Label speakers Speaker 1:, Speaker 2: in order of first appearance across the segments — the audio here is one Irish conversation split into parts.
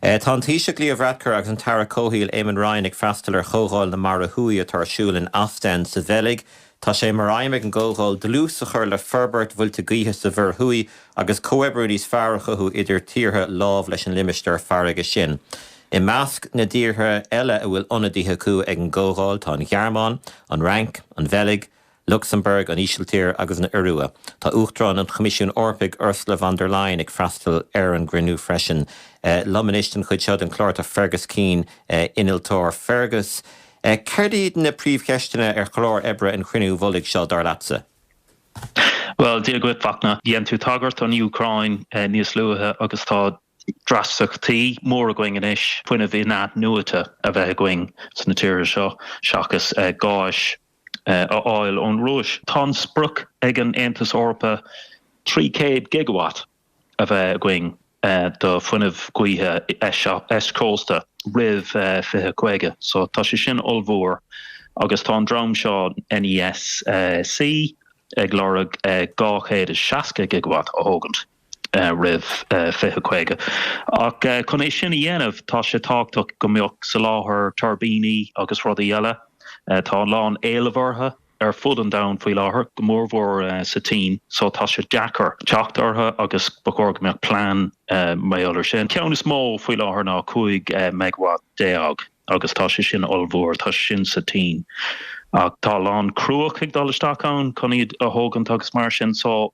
Speaker 1: Tá an Taoiseach Leo Varadkar agus an tAire Comhshaoil Eamon Ryan ag freastal ar Chomhdháil na Mara Thuaidh atá ar siúl in Ostend sa Bheilg. Tá sé mar aidhm ag an gcomhdháil dlús a chur le forbairt mhuilte gaoithe sa Mhuir Thuaidh agus comhoibriú níos fearr a chothú idir tíortha lámh leis an limistéar farraige sin. I measc na dtíortha eile a bhfuil ionadaithe acu ag an gcomhdháil tá an Ghearmáin, an Fhrainc, an Bheilg, Lucsamburg, an Ísiltír agus an Iorua. Tá Uachtarán an Choimisiúin Eorpaigh, Ursula von der Leyen, ag freastal ar an gcruinniú freisin. Liom anois don chuid seo den chlár tá Fergus Keane, innealtóir. Fergus, céard iad na príomhcheisteanna ar chlár oibre an chruinniú mhullaigh seo, dar leatsa?
Speaker 2: Bhuel, Dia dhuit, Fachtna. Dhein tú tagairt don Úcráin níos luaithe agus tá dreasachtaí móra againn anois fuinneamh in-athnuaite a bheith againn sna tíortha seo seachas gáis a fháil ón Rúis. Tá sprioc ag an Aontas Eorpa 300 gigawatt a bheith againn do fuinneamh gaoithe eischósta roimh 2050 so tá sé sin ollmhór agus tá an dream seo NESC ag lorg 260 gigawatt a thógaint. roimh 2050. Ach chun é sin a dhéanamh tá sé tábhachtach go mbeadh soláthar tuirbíní agus rudaí eile, tá a lán éilimh orthu ar fud an domhain faoi láthair, go mór mhór sa tSín, só tá sé deacair teacht orthu agus ba chóir go mbeadh plean mar gheall ar sin. An ceann is mó faoi láthair ná 15 megawatt. agus tá sé sin ollmhór, tá sé sin sa tSín ach tá a lán cruach ag dul isteach ann chun iad a thógaint agus mar sin so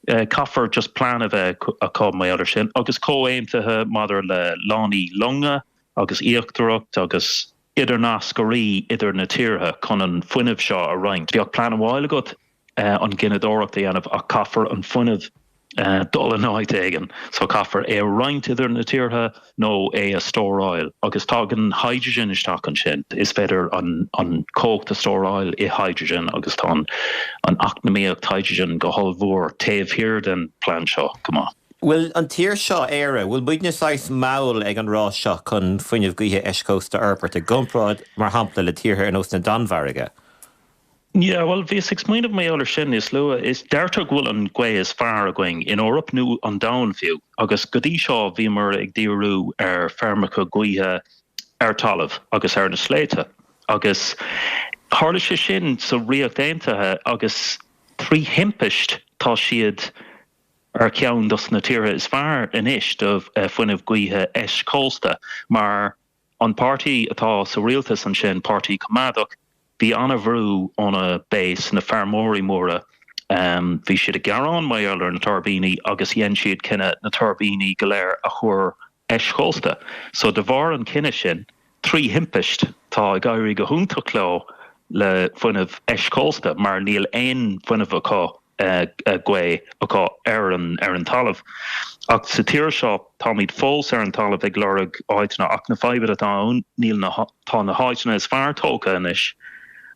Speaker 2: caithfear just plean a bheith acu mar gheall ar sin agus comhaontaithe maidir le lánaí longa agus iascaireacht agus idirnascairí idir na tíortha chun an fuinneamh seo a roinnt. Bheadh plean amháil agat an gineadóireacht a dhéanamh ach caithfear an fuinneamh dul in áit éigin so caithfear é a roinnt idir na tíortha nó é a stóráil agus tagann hydrogen isteach ansin. Is féidir an chumhacht a stóráil i hydrogen agus tá an eacnamaíocht hydrogen go hollmhór taobh thiar den plean seo. Go maith. Bhfuil an tír
Speaker 1: seo, Éire, bhfuil muidne saghas mall ag an rás seo chun fuinneamh gaoithe eischósta a fhorbairt i gcomparáid, mar shampla, le tíortha ar nós na Danmhairge?
Speaker 2: Yeah, bhuel, bhíos ag smaoineamh mar gheall ar sin níos luaithe. Is deirtear go bhfuil an gaoth is fearr againn san Eoraip, nó an domhan fiú, agus go dtí seo bhíomar ag díriú ar feirmeacha gaoithe ar talamh agus ar na sléibhte, agus tharla sé sin sa Ríocht Aontaithe, agus trí thimpist tá siad ar cheann dos na tíortha is fearr anois do fuinneamh gaoithe eischósta, mar. An páirtí atá sa rialtas ansin, Páirtí Coimeádach, bhí an-bhrú óna base, na feirmeoirí móra. Bhí siad ag gearán mar gheall ar na tuirbíní agus dhein siad cinneadh na tuirbíní go léir a chur eischósta. So de bharr an chinnidh sin, trí thimpist, tá ag éirí go hiontach leo le fuinneamh eischósta mar níl aon fuinneamh acu gaoth acu ar an talamh. Ach sa tír seo táimid fós ar an talamh ag lorg áiteanna ach na fadhbanna atá ann níl na, tá na háiteanna is fearr tógtha anois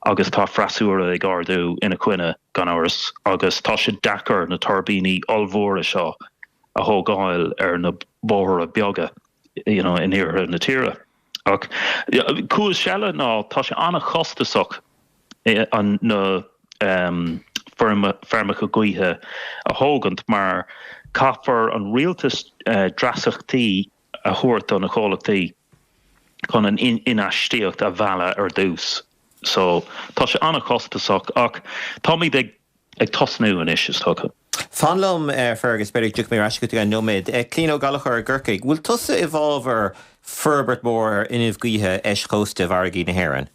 Speaker 2: agus tá freasúra ag ardú ina coinne gan amhras agus tá sé deacair na tuirbíní ollmhóra seo a thógáil ar na bóithre beaga in iarthar na tíre. Ach cúis eile ná tá sé an-chostasach na feirmeacha gaoithe a thógaint mar caithfidh an rialtas dreasachtaí a thabhairt do na comhlachtaí chun an infheistíocht a mhealladh ar dtús. So tá sé an-chostasach ach táimid ag Ag tosnú anois is tugtha. Fan liom,
Speaker 1: a Fergus, b'fhéidir go dtiocfaidh mé ar ais chugat i gceann nóiméad. Clíodhna Ní Ghallchóir i gCorcaigh, an bhfuil tusa i bhfábhar forbairt mhór ar fhuinneamh gaoithe eischósta i bhfarraigí na hÉireann?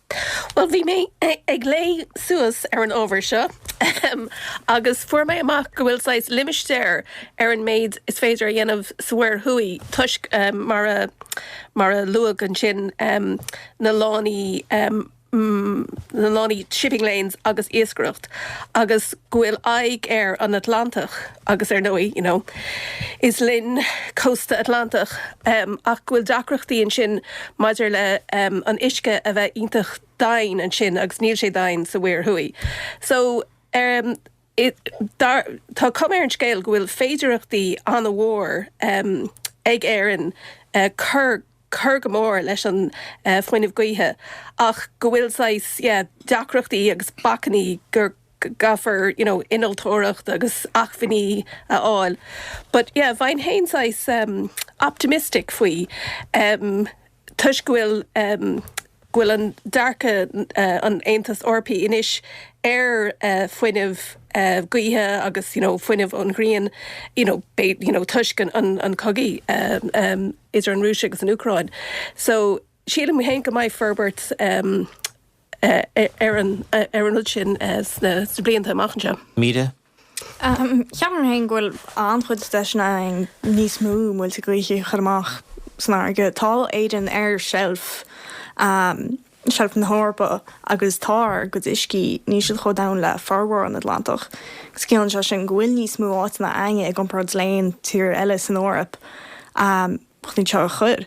Speaker 1: Bhuel, bhí mé
Speaker 3: ag léigh suas ar an ábhar seo, ahem, agus fuair mé amach go bhfuil saghas limistéar ar an méid is féidir a dhéanamh sa Mhuir Thuaidh toisc, mar a luadh ansin, na lánaí. na lánaí shipping lanes agus iascaireacht agus go bhfuil aghaidh ar an Atlantach agus ar ndóigh you know is linn cósta Atlantach ach go bhfuil deacrachtaí ansin maidir le an uisce a bheith iontach domhain ansin agus níl sé domhain sa Mhuir Thuaidh so Tá cuma ar an scéal go bhfuil féidireachtaí an-mhór ag Éirinn cur go mór leis an fuinneamh gaoithe ach go bhfuil saghas deacrachtaí agus bacainní agus caithfear you know innealtóireacht agus acmhainní a fháil but yeah bheinn fhéin saghas optimistic faoi. toisc go bhfuil go bhfuil an dearcadh an Aontas Eorpaigh anois ar fuinneamh gaoithe agus you know fuinneamh ón ghrian you know bé you know toisc an an an chogaidh idir an Rúis agus an Úcráin so sílim féin go mbeidh forbairt ar an ar an rud sin sna blianta amach anseo. Mire,
Speaker 4: Ceapaim féin go bhfuil an-chuid deiseanna againn níos mó muilte gaoithe a chur amach san fharraige. Tá Éirinn ar sheilf, seilf na hEorpa agus tá ár gcuid uiscí, níl siad chomh domhain le formhór an Atlantach agus ciallaíonn sé sin go bhfuil níos mó áiteanna againn i gcomparáid le haon tír eile san Eoraip chun iad seo a chur.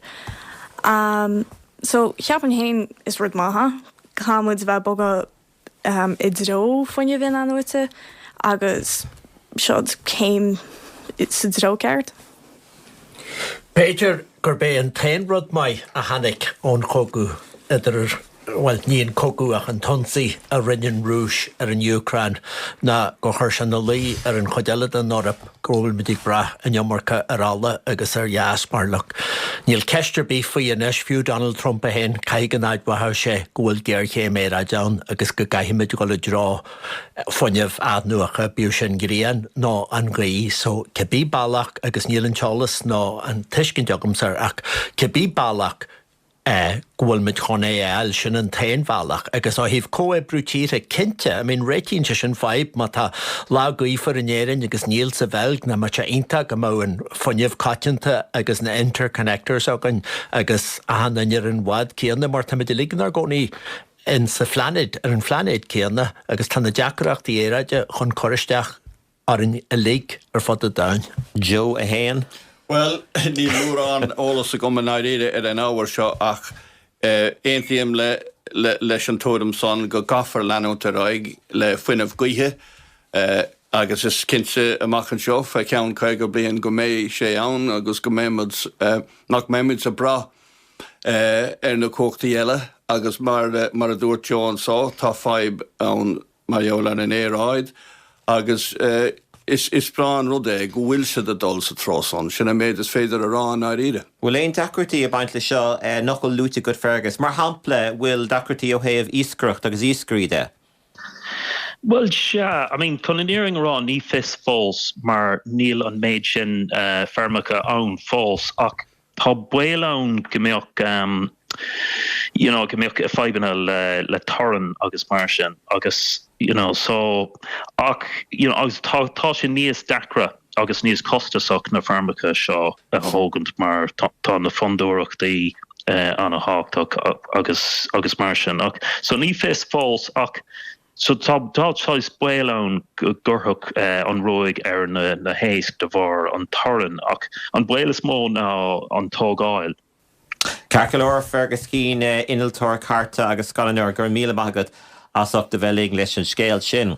Speaker 4: So, ceapaim féin is rud maith é, caithfimid a bheith ag bogadh. i dtreo fuinneamh in-athnuaite agus seod céim sa dtreo ceart. B'fhéidir
Speaker 5: gurb é an t-aon rud maith a tháinig ón chogadh idir, bhuel, ní an cogadh ach an t-ionsaí a rinne an Rúis ar an Úcráin ná gur chuir sé ina luí ar an chuid eile den Eoraip, go bhfuilimid ag brath an iomarca ar ola agus ar ghás mar lucht. Níl ceist ar bith faoi anois, fiú Donald Trump é féin, caithfidh go n-admhódh sé go bhfuil géarchéim aeráide ann agus go gcaithfimid dul i dtreo fuinneamh athnuacha, bíodh sin grian nó an ghaoth. So, cibé bealach, agus níl an t-eolas ná an tuiscint agamsa, ach cibé bealach, é go bhfuil muid chun é a fháil, sin an t-aon bhealach agus ó thaobh comhoibriú tíortha, cinnte, I mean réitíonn sé sin fadhb má tá lá gaofar in Éirinn agus níl sa Bheilg nach mbeadh sé iontach go mbeadh an fuinneamh coitianta agus na interconnectors againn agus achan duine ar an bhád céanna mar táimid uilig inár gcónaí insa phláinéad, ar an phláinéad céanna agus tá na deacrachtaí aeráide chun cur isteach orainn uilig ar fud an domhain. Joe 1.
Speaker 1: Bhuel,
Speaker 6: níl mórán eolas agam i ndáiríre ar an ábhar seo ach aontaím leis an tuairim san go gcaithfear leanúint ar aghaidh le fuinneamh gaoithe agus is cinnte amach anseo fé cheann 50 bliain go mbeidh sé ann agus go mbeimid, nach mbeimid ag brath ar na cumhachtaí eile agus mar a dúirt Joe anso tá fadhb ann mar gheall ar an aeráid agus is breá an rud é go bhfuil siad ag dul sa treo san. Sin an méid is féidir a rá i ndáiríre. Bhfuil aon deacrachtaí
Speaker 1: ag baint le seo nach bhfuil luaite agat Fergus? Mar shampla bhfuil deacrachtaí ó thaobh iascaireacht agus iascairí de?
Speaker 2: Bhuel sea, I mean chun an fhírinne a rá ní fios fós mar níl an méid sin feirmeacha ann fós ach Tá baol ann go mbeadh you know go mbeadh fadhbanna le le torann agus mar sin agus you know so ach you know agus tá tá sé níos deacra agus níos costasach na feirmeacha seo a thógaint mar tá tá na fondúireachtaí ana thábhachtach agus agus mar sin ach so ní fios fós ach So tá tá saghas baol ann go gcuirfeadh an ruaig ar na na héisc de bharr an torann ach an baol is mó ná an tógáil. Ceart
Speaker 1: go leor, Fergus Keane, innealtóir cairte agus scannánóir, go raibh míle maith agat as ucht a bheith linn leis an scéal sin.